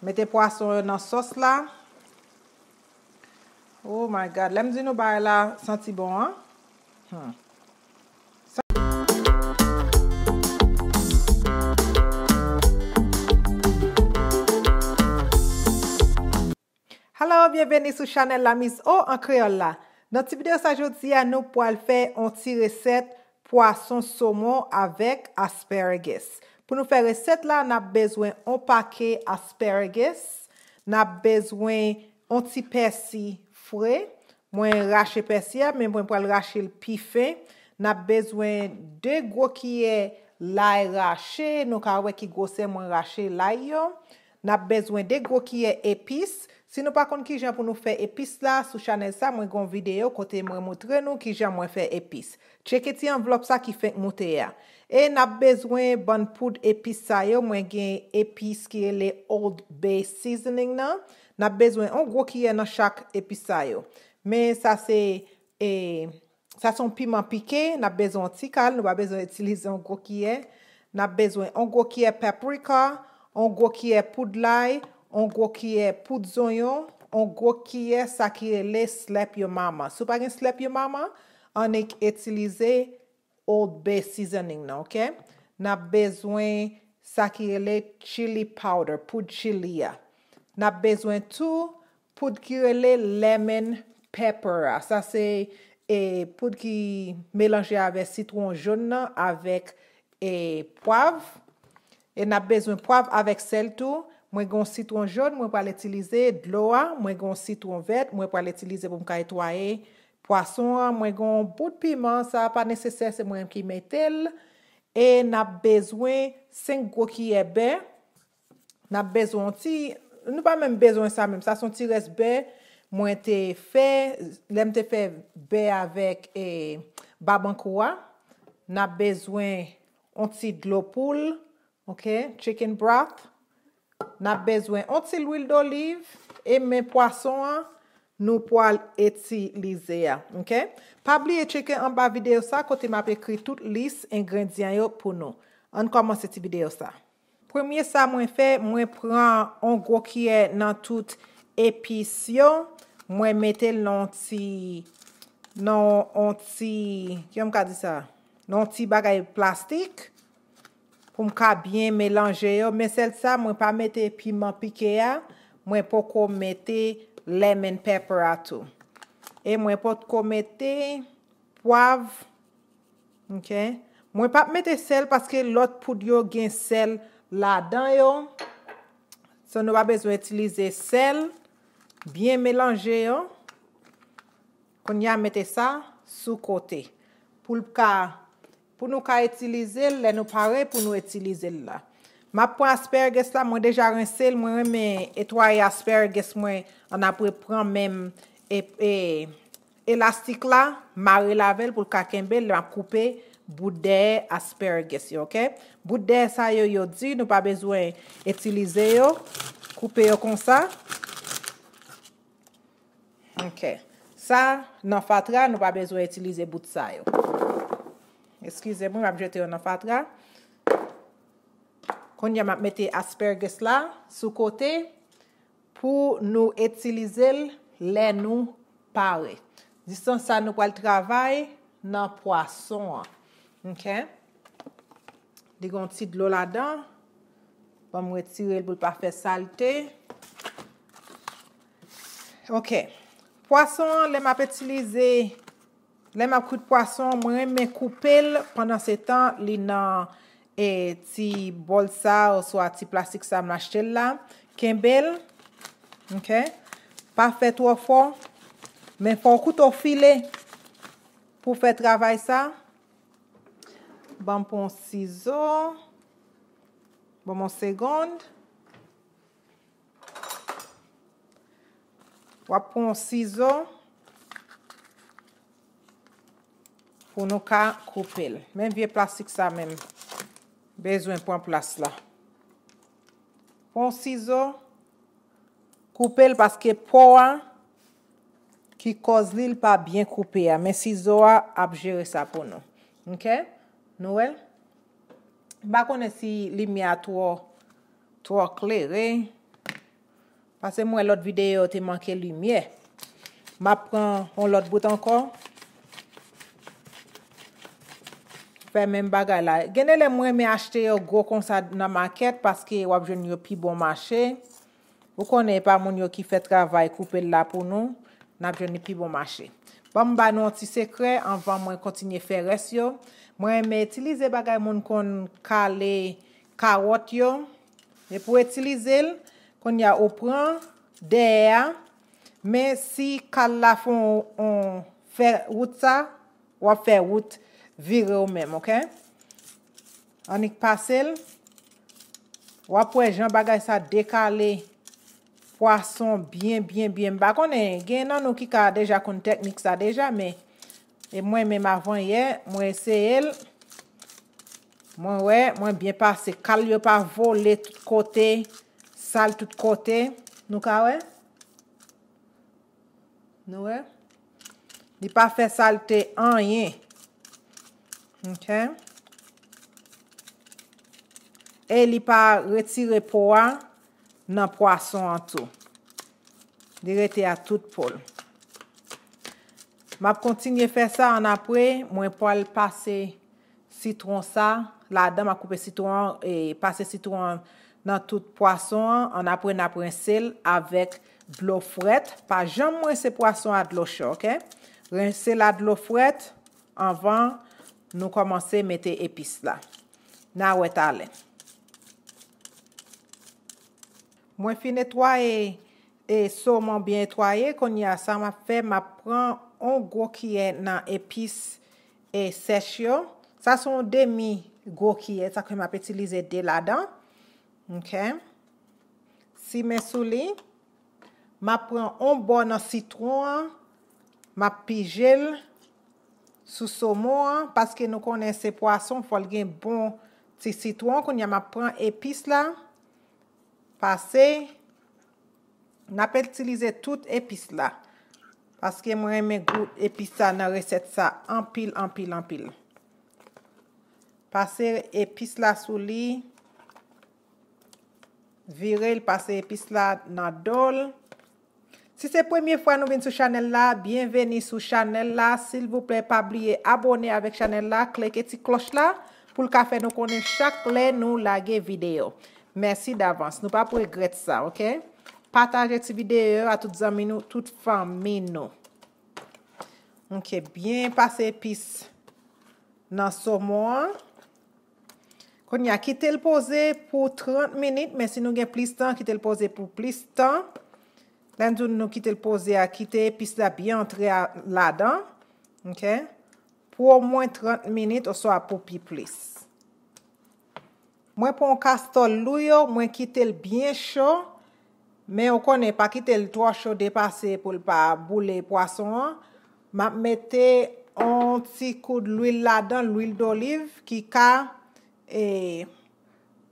Mete pwason yo nan sòs la. Oh my God, lèm di nou bagay la santi bon an. Humm. Hello byenveni sou chanèl la miss O an kreyòl la nan ti video sa jodi a nou pwal fè on ti resèt pwason somon avèk asparagus pou nou fè resèt la nap bezwen on pake asparagus nap bezwen on ti pèsi fre mwen rache pèsi a men mwen pwal rache l pi fen nap bezwen 2 gwo kiyè lay rache nou ka wè ki gwosè mwen rache lay yo Nap bezwen 2 gwo kiyè epis, si nou pa konn kijan pou nou fè epis la, sou chanèl sa mwen gen yon videyo kote mwen moutre nou kijan mwen fè epis. Tcheke ti anvlòp sa ki fenk moute a. E nap bezwen bann poud epis sa yo, mwen gen epis ki rele Old Bay Seasoning nan, nap bezwen yon gwo kiyè nan chak epis sa yo. Men sa se e. Sa se yon piman pike, n ap bezwen yon ti kal, nou pa bezwen itilize yon gwo kiyè. N ap bezwen yon gwo kiyè paprika, yon gwo kiyè poud lay, yon gwo kiyè poud zonyon, yon gwo kiyè sa ki rele slèp yo mama. Si w pa gen slèp yo mama, annik itilize Old Bay seasoning nan, ok? N ap bezwen sa ki rele chili powder, poud chili a. N ap bezwen tou Poud ki rele lemon pepper a sa se e poud ki melanje avè sitwon jon nan avèk e pwav e nap bezwen pwav avèk sèl tou mwen gon sitwon jon mwen pral itilize dlo a mwen gon sitwon vèt mwen pral itilize pou m ka etwaye pwason an mwen gon bout piman sa pa nesesè se mwen ki metel e nap bezwen 5 gwo kiyè bè Nap bezwen yon ti Nou pa menm bezwen sa menm sa son ti rès bè mwen te fè lèm te fè bè avèk e babankou a nap bezwen yon ti dlo poul ok chicken broth nap bezwen yon ti lwil doliv e men pwason an nou pwal itilize a ok pa bliye tcheke anba video sa kote map ekri tout lis engredyan yo pou nou ann kòmanse ti video sa. Premye sa mwen fè mwen pran on gwo kiyè nan tout epis yo mwen metel nan on ti nan on ti kijan m ka di sa nan on ti bagay plastik poum ka byen melanje yo men sèl sa mwen pa mete piman pike a mwen poko mete lemon pepper a tou e mwen potko mete pwav Ok mwen pap mete sèl paske lòt poud yo gen sèl ladan yo so nou pa bezwen itilize sèl byen melanje yo kounya mete sa sou kote poul ka pou nou ka itilize l lè nou pare pou nou itilize l la map pran asparagus la mwen deja rense l mwen renmen etwaye asparagus mwen annapre pran menm e. Elastik la marel avèl poul ka kenbel lè map koupe bout dèyè asparagus yo ok bout dèyè sa yo yo di nou pa bezwen itilize yo koupe yo konsa ok sa nan fatra nou pa bezwen itilize bout sa yo eskize mwen map jete yo nan fatra kounye a map mete asparagus la sou kote. Pou nou itilize l lè nou pare. Distans sa nou pral travay nan pwason an. Ok. Li gen yon ti dlo ladan. Banm retire l pou l pa fè salte. Ok. Pwason an lè m ap itilize. Lè map kwit pwason mwen renmen koupel pandan se tan li nan e ti bòl sa oswa ti plastik sa m achtel la kenbel ok pa fè twò fò men fòw koute w file pou fè travay sa banm pran sizo banm yon segond Wap pran yon sizo pou nou ka koupe l. Men vye plastik sa menm. Bezwen pran plas la. Pran yon sizo. Koupe l paske po a ki koz li l pa byen koupe a. Men sizo a ap jere sa pou nou. Ok? Nou wè? M pa konnen si limye a two Twò klere. Pase m wè lòt videyo yo te manke limyè. M ap pran yon lòt bout ankò. Fè menm bagay la. Gen de lè m renmen achte yo gwo konsa nan makèt paske w ap jwenn yo pi bon mache. Ou konnen e pa moun yo ki fè travay koupe l la pou nou. N ap jwenn li pi bon mache. Ban m ba nou yon ti sekrè anvan mwen kontinye fè rès yo. Mwen renmen itilize bagay moun konn kale Karòt yo, e pou itilize l, kounye a ou pran dèyè a, men si kal la fè yon fè wout sa, wap fè wout vire ou menm ok. Annik pase l, wap wè jan bagay sa dekale pwason byen byen byen, m pa konnen gen nan nou ki ka deja konn teknik sa deja men. E mwen menm avan yè mwen eseyel mwen wè mwen byen pase kal yo pa vole tout kote sal tout kote nou ka wè nou wè li pa fè salte anyen ok e li pa retire po a nan pwason an tou li rete a tout pol. Map kontinye fè sa annapre mwen pwal pase sitron sa ladan map koupe sitron an e pase sitron an nan tout pwason an annapre nap rensel avèk dlo frèt pa janm rense pwason a dlo cho ok rensel a dlo frèt anvan nou kòmanse mete epis la na wè talè. Mwen fin etwaye e somon byen etwaye kounya sa map fè map pran on gwo kiyè nan epis e sèch yo sa son on demi gwo kiyè sa ke map itilize 2 ladan ok simen sou li map pran on bò nan sitron an map pijel sou somon an paske nou konnen se pwason fòl gen bon ti sitron kounya map pran epis la pase nap etilize tout epis la paske mwen renmen gou epis sa nan resèt sa anpil anpil anpil pase epis la sou li virel pase epis la nan dol Si se premye fwa nou vin sou chanèl la, byenveni sou chanèl la, silvouplè pa bliye abòne avèk chanèl la, kleke ti klòch la pou l ka fè nou konnen chak lè nou lage videyo. Mèsi davans, nou pap regrèt sa ok. Pataje ti videyo yo a tout zanmi nou, tout fanmi nou. Ok, byen pase epis nan somon an. Kounye a kite l poze pou 30 minit men si nou gen plis tan kite l poze pou plis tan. Lè n di w nou kite l poze a kite epis la byen antre ladan ok pou omwen 30 minit oswa pou pi plis. Mwen pran yon kastòl lou yo mwen kite l byen cho. Men ou konnen pa kite l twò cho depase pou l pa boule pwason an, m ap mete on ti koud lwil ladan l, lwil doliv ki ka e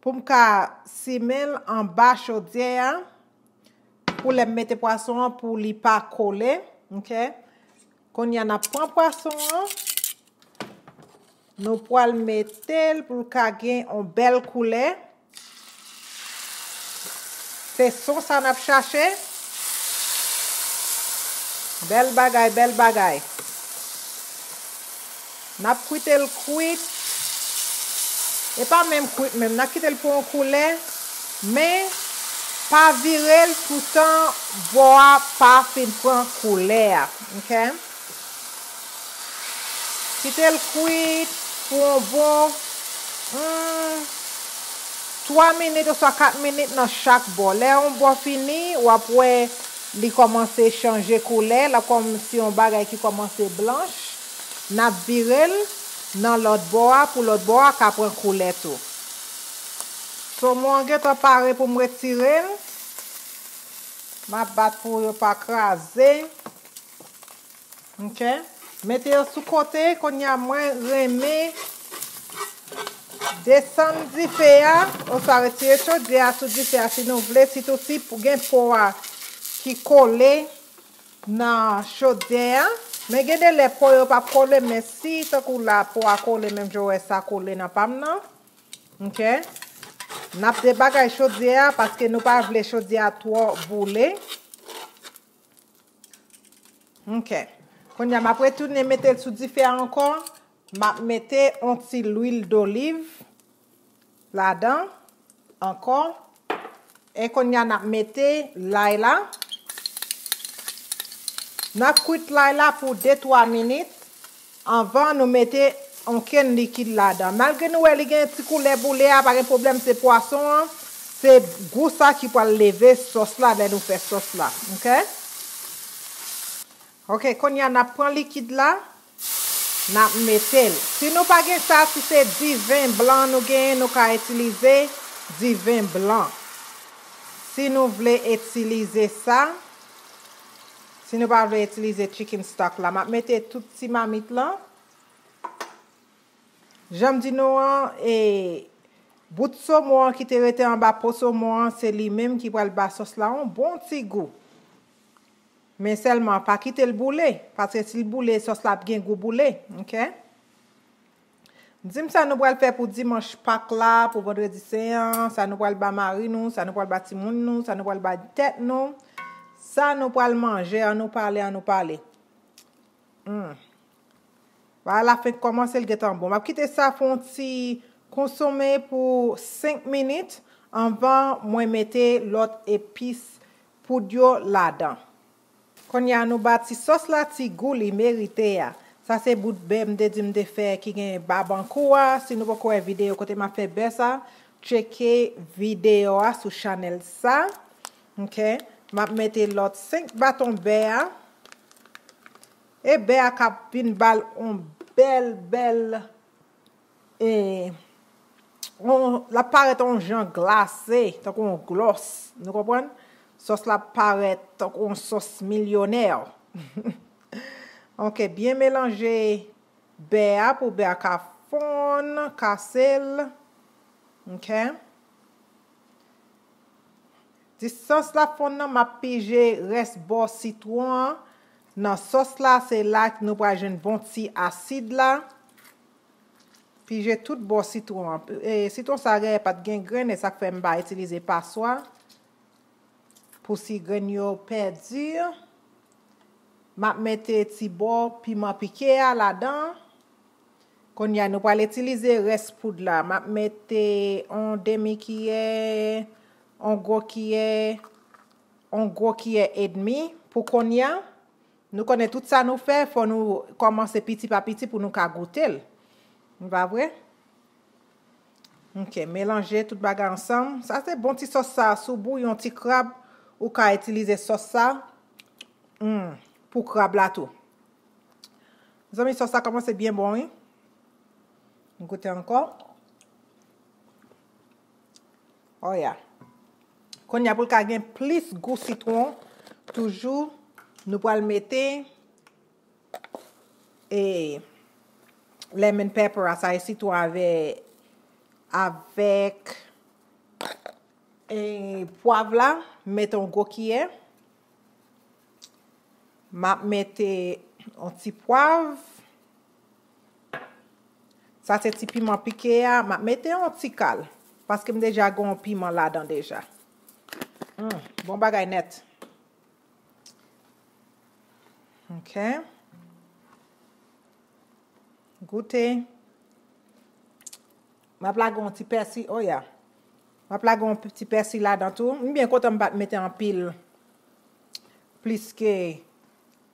pou m ka simen l anba chodyè a pou lè m mete pwason an pou li pa kole ok. Konnya nap pran pwason an nou pwal metel poul ka gen on bèl koulè se son sa nap chache bèl bagay bèl bagay. Nap kwuitel kwit e pa menm kwit menm na kitel pou yon koulè men pa virel toutan bò a pa fin pran koulè a ok kitel kwit pou yon bon humm 3 minit oswa 4 minit nan chak bò lè yon bò fini wap wè li kòmanse chanje koulè lap kòmsi yon bagay ki kòmanse blanch. Nap virel Nan lòt bò a pou lòt bò a ka pran koulè tou. Somon an gentan pare poum retirel. Map bat pou yo pa kraze. Ok. Mete yo sou kote kounya mwen renmen desann dife a oswa retire chodyè a sou dife a si nou vle sitou si gen po a ki kole. nan chodè a men gen de lè po yo pap kole men si tankou la po a kole menm jan w wè sa kole nan pa m nan ok n ap debagay chodyè a paske nou pa vle chodyè a twò boule ok kounye a m ap retounen mete l sou dife a ankò m ap mete yon ti lwil doliv ladan ankò e kounya nap mete lay la nap kwit lay la pou 2 3 minit anvan nou mete onkenn likid ladan malgre nou wè li gen ti koulè boule a pa gen pwoblèm se pwason an se gou sa ki pwal leve sòs la lè nou fè sòs la ok ok kounya nap pran likid la. Nap metel. Si nou pa gen sa si se diven blan nou genyen nou ka itilize diven blan. Si nou vle itilize sa. Si nou pa vle itilize chicken stock la. Map mete tout ti mamit lan. Janm di nou an e bout somon an ki te rete anba po somon an se li menm ki pral ba sos la yon bon ti gou. Men sèlman pa kitel boule paske sil boule sòs la ap gen gou boule ok. Dim sa nou pral fè pou dimanch pak la pou vandredi sen an sa nou pral ba mari nou sa nou pral ba timoun nou sa nou pral ba tèt nou sa nou pral manje an nou pale an nou pale humm bagay la fenk kòmanse li gentan bon map kite sa fon ti konsome pou 5 minit anvan mwen mete lòt epis poud yo ladan. Konnya nou ba ti sòs la ti gou li merite a. Sa se bout bè m te di m te fè ki gen babankou a, si nou poko wè video kote map fè bè sa, tcheke video a sou chanèl sa. Ok, map mete lòt 5 baton bè a. E bè a kap vin bal on bèl bèl. E on, l ap parèt on jan glase, tankou on glòs. Nou konprann? Sòs la ap parèt tankou on sòs milyonè. Ok, byen melanje bè a pou bè a ka fonn, kase l. Ok. Distans l ap fonn nan, m ap pije rès bò sitwon an nan sòs la, se la nou pral jwenn bon ti asid la. Pije tout bò sitwon an. Sitwon sa dèyè pat gen grenn e sak fè m pa itilize paswa pou si grenn yo pèdi. Map mete ti bò piman pike a ladan. Konnya nou pral itilize rès poud la. Map mete on demi kiyè, on gwo kiyè, on gwo kiyè edmi pou konnya. Nou konnen tout sa nou fè, fò nou kòmanse piti pa piti pou nou ka goute l. Li pa vre? Ok, melanje tout bagay ansanm. Sa se bon ti sòs sa a. Si w bouyon ti krab, ou ka itilize sòs sa a humm pou krab la tou. Mezanmi sòs la kòmanse byen bon wi. M goute ankò. Oh ya. Konnya pou l ka gen plis gou sitwon toujou nou pral mete e lemon pepper a sa e sitwon avè avèk e pwav la m mete yon gwo kiyè m ap mete yon ti pwav Sa se ti piman pike a, map mete yon ti kal. Paske m deja gen yon piman ladan deja. Humm, bon bagay nèt. Ok. Goute. Map lage yon ti pèsi, oh ya. Map lage yon ti pèsi ladan tou. M byen kontan m pat mete anpil. Pliske.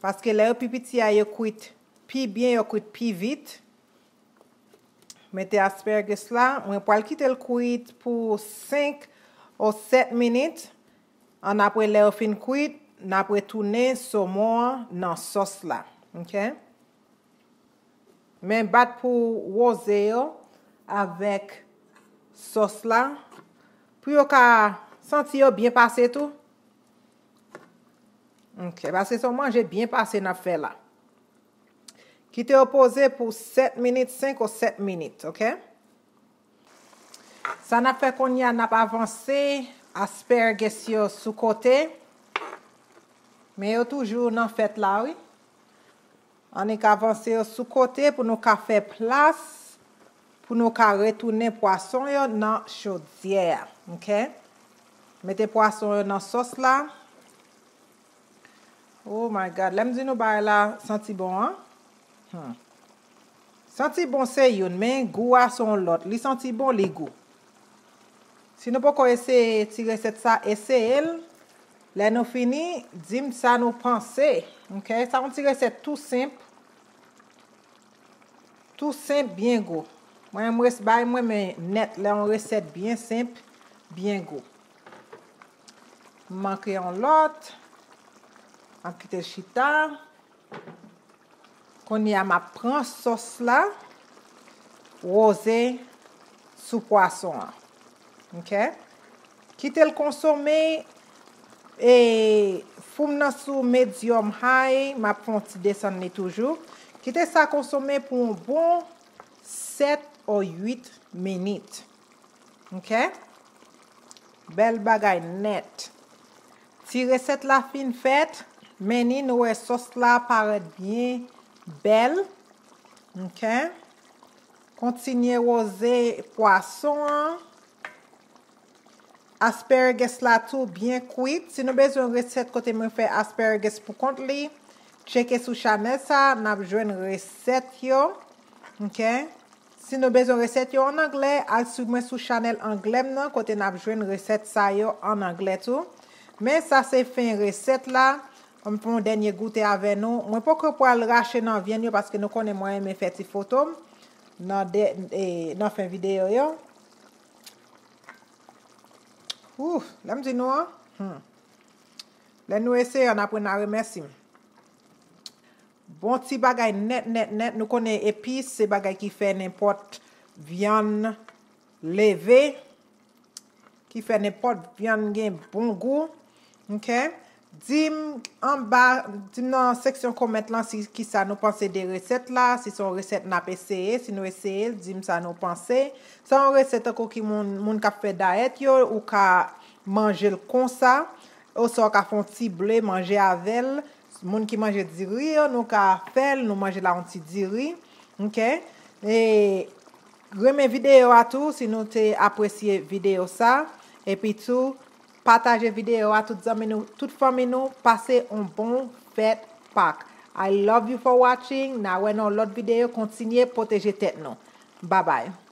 Paske lè yo pi piti a yo kwit pi byen yo kwit pi vit mete asparagus la mwen pwal kitel kwit pou 5 o 7 minit an apre lè yo fin kwit nap retounen somon an nan sòs la ok men bat pou roze yo avèk sòs la pou yo ka santi yo byen pase tou. Ok, pase son manje byen pase nap fè la. Kite yo poze pou 7 minit, 5 ou 7 minit, ok? Sa nap fè konye a nap avanse asperges yo sou kote. Men yo toujou nan fèt la wi. Annik avanse yo sou kote pou nou ka fè plas pou nou ka retounen pwason yo nan chodyè a ok mete pwason yo nan sòs la oh my god lèm di nou bagay la santi bon an humm santi bon se youn men gou a son lòt li santi bon li gou Si nou poko eseye ti resèt sa eseye l lè nou fini di m sa nou panse ok sa yon ti resèt tou senp tou senp byen gou mwen menm res bay mwen men nèt lè yon resèt byen senp byen gou m manke yon lòt map kite l chita. Kounye a map pran sòs la roze sou pwason an ok kitel konsome e foum nan sou medium high map fè yon ti desann li toujou kite sa konsome pou yon bon 7 or 8 minutes. Ok bel bagay net. Ti reset la fin fet men ni nou we sos la paret byen bel ok kontinye roze pwason an. Asparagus la tou byen kwit. Si nou bezwen reset kote mwen fe asparagus pou kont li tcheke sou chanel sa nap jwen reset yo ok. Si nou bezwen resèt yo an anglè, al swiv mwen sou chanèl anglè m nan kote nap jwenn resèt sa yo an anglè tou. Men sa se fen resèt la, m fè yon dènye goute avè nou. Mwen poko pral rache nan vyann yo paske nou konnen mwen renmen fè ti foto m nan fen videyo yo. Ooh! Lè m di nou an, humm! Lè nou eseye an apre na remèsi m. Bon ti bagay nèt nèt nèt nou konnen epis se bagay ki fè nenpòt vyann leve ki fè nenpòt vyann gen bon gou ok dim anba dim nan seksyon komènt lan si kisa nou panse de resèt la si son resèt nap eseye si nou eseyel dim sa nou panse se yon resèt tankou ki moun moun kap fè dayèt yo ou ka manjel konsa oswa ou ka fon ti ble manje avèl Moun ki manje diri yo nou ka fèl nou manje la yon ti diri ok e renmen video a tou si nou te apresye video sa epi tou pataje video a tout zanmi nou tout fanmi nou pase yon bon fèt pak I love you for watching na wè nan yon lòt video kontinye pwoteje tèt nou babay.